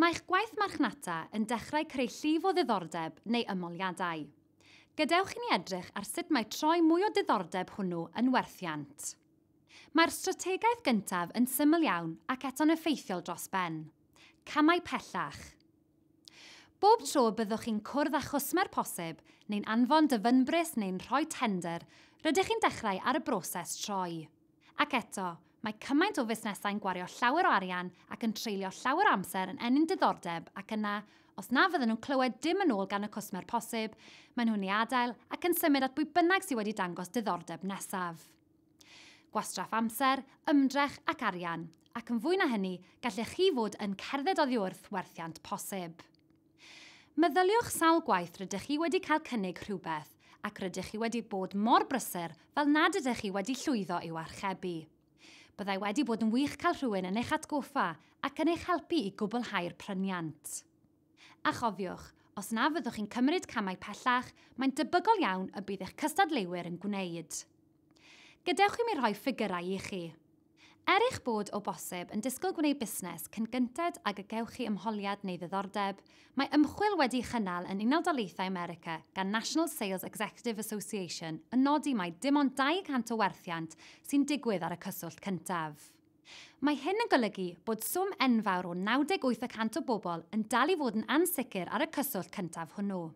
Mae'ch gwaith marchnata yn dechrau creu llif o ddiddordeb neu ymoliadau. Gadewch i ni edrych ar sut mae troi mwy o diddordeb hwnnw yn werthiant. Mae'r strategaeth gyntaf yn syml iawn ac eto'n effeithiol dros ben. Camau pellach. Bob tro y byddwch chi'n cwrdd â chwsmer posib, neu'n anfon dyfynbris neu'n rhoi tendr, rydych chi'n dechrau ar y broses troi. Ac eto, mae cymaint o fusnesau'n gwario llawer o arian ac yn treulio llawer o amser yn ennyn diddordeb ac yna, os na fydden nhw'n clywed dim yn ôl gan y cwsmer posib, maen nhw'n ei adael ac yn symud at bwy bynnag sydd wedi dangos diddordeb nesaf. Gwastraff amser, ymdrech ac arian, ac yn fwy na hynny, gallech chi fod yn cerdded oddi wrth werthiant posib. Meddyliwch sawl gwaith rydych chi wedi cael cynnig rhywbeth ac rydych chi wedi bod mor brysur fel nad ydych chi wedi llwyddo i'w archebu. Byddai wedi bod yn wych cael rhywun yn eich atgoffa ac yn eich helpu i gwblhau'r pryniant. A chofiwch, os na fyddwch chi'n cymryd camau pellach, mae'n debygol iawn y bydd eich cystadleuwyr yn gwneud. Gadewch i mi rhoi ffigyrau i chi. Er eich bod o bosib yn disgwyl gwneud busnes cyn gynted ag y gewch chi ymholiad neu ddiddordeb, mae ymchwil wedi'i chynnal yn Unol Daleithiau America gan National Sales Executive Association yn nodi mai dim ond 200 o werthiant sy'n digwydd ar y cyswllt cyntaf. Mae hyn yn golygu bod swm enfawr o 98 y cant o bobl yn dal i fod yn ansicr ar y cyswllt cyntaf hwnnw.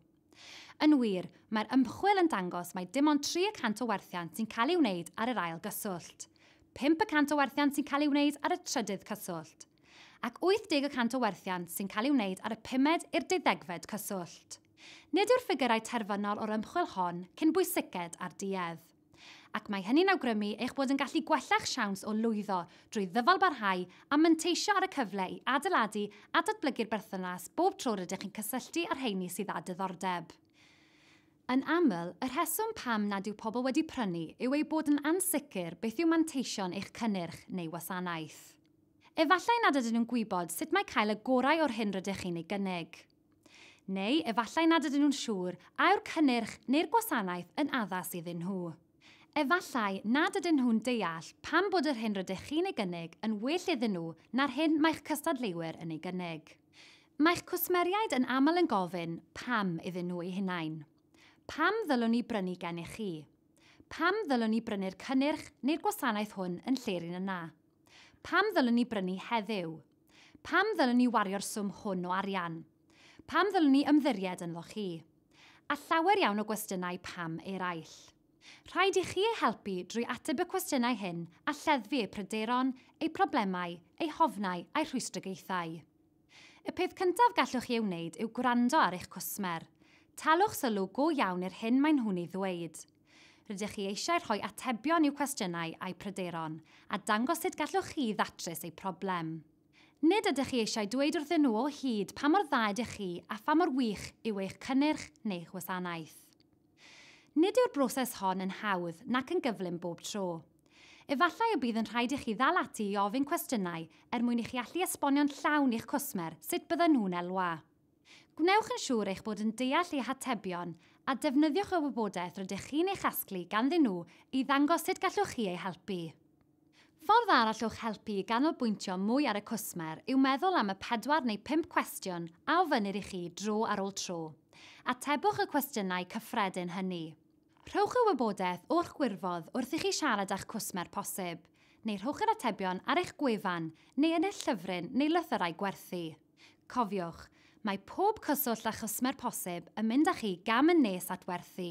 Yn wir, mae'r ymchwil yn dangos mai dim ond tri y cant o werthiant sy'n cael ei wneud ar yr ail gyswllt, pump y cant o werthiant sy'n cael ei wneud ar y trydydd cyswllt, ac 80 y cant o werthiant sy'n cael ei wneud ar y pumed i'r deuddegfed cyswllt. Nid yw'r ffigyrau terfynol o'r ymchwil hon cyn bwysiced â'r duedd. Ac mae hynny'n awgrymu eich bod yn gallu gwella'ch siawns o lwyddo drwy ddyfalbarhau a manteisio ar y cyfle i adeiladu a datblygu'r berthynas bob tro rydych chi'n cysylltu â'r rheini sydd â diddordeb. Yn aml, y rheswm pam nad yw pobl wedi prynu yw eu bod yn ansicr beth yw manteision eich cynnyrch neu wasanaeth. Efallai nad ydyn nhw'n gwybod sut mae cael y gorau o'r hyn rydych chi'n ei gynnig. Neu efallai nad ydyn nhw'n siŵr a yw'r cynnyrch neu'r gwasanaeth yn addas iddyn nhw. Efallai nad ydyn nhw'n deall pam bod yr hyn rydych chi'n ei gynnig yn well iddyn nhw na'r hyn mae'ch cystadleuwyr yn ei gynnig. Mae'ch cwsmeriaid yn aml yn gofyn 'pam' iddyn nhw eu hunain. Pam ddylwn i brynu gennych chi? Pam ddylwn i brynu'r cynnyrch neu'r gwasanaeth hwn yn lle'r un yna? Pam ddylwn i brynu heddiw? Pam ddylwn ni wario'r swm hwn o arian? Pam ddylwn ni ymddiried ynddo chi? A llawer iawn o gwestiynau pam eraill. Rhaid i chi eu helpu drwy ateb y cwestiynau hyn a lleddfu eu pryderon, eu problemau, eu hofnau a'u rhwystrogaethau. Y peth cyntaf gallwch chi ei wneud yw gwrando ar eich cwsmer. Talwch sylw go iawn i'r hyn maen nhw'n ei ddweud. Rydych chi eisiau rhoi atebion i'w cwestiynau a'u pryderon, a dangos sut gallwch chi ddatrys eu problem. Nid ydych chi eisiau dweud wrthyn nhw o hyd pa mor dda ydych chi a pha mor wych yw eich cynnyrch neu'ch wasanaeth. Nid yw'r broses hon yn hawdd nac yn gyflym bob tro. Efallai y bydd yn rhaid i chi ddal ati i ofyn cwestiynau er mwyn i chi allu esbonio'n llawn i'ch cwsmer sut byddan nhw'n elwa. Gwnewch yn siŵr eich bod yn deall eu hatebion a defnyddiwch y wybodaeth rydych chi'n ei chasglu ganddyn nhw i ddangos sut gallwch chi eu helpu. Ffordd arall o'ch helpu i ganolbwyntio mwy ar y cwsmer yw meddwl am y pedwar neu bump cwestiwn a ofynnir i chi dro ar ôl tro. Atebwch y cwestiynau cyffredin hynny. Rhowch y wybodaeth o'ch gwirfodd wrth i chi siarad â'ch cwsmer posib, neu rhowch yr atebion ar eich gwefan neu yn eich llyfryn neu lythyrau gwerthu. Cofiwch, mae pob cyswllt â chwsmer posib yn mynd â chi gam yn nes at werthu.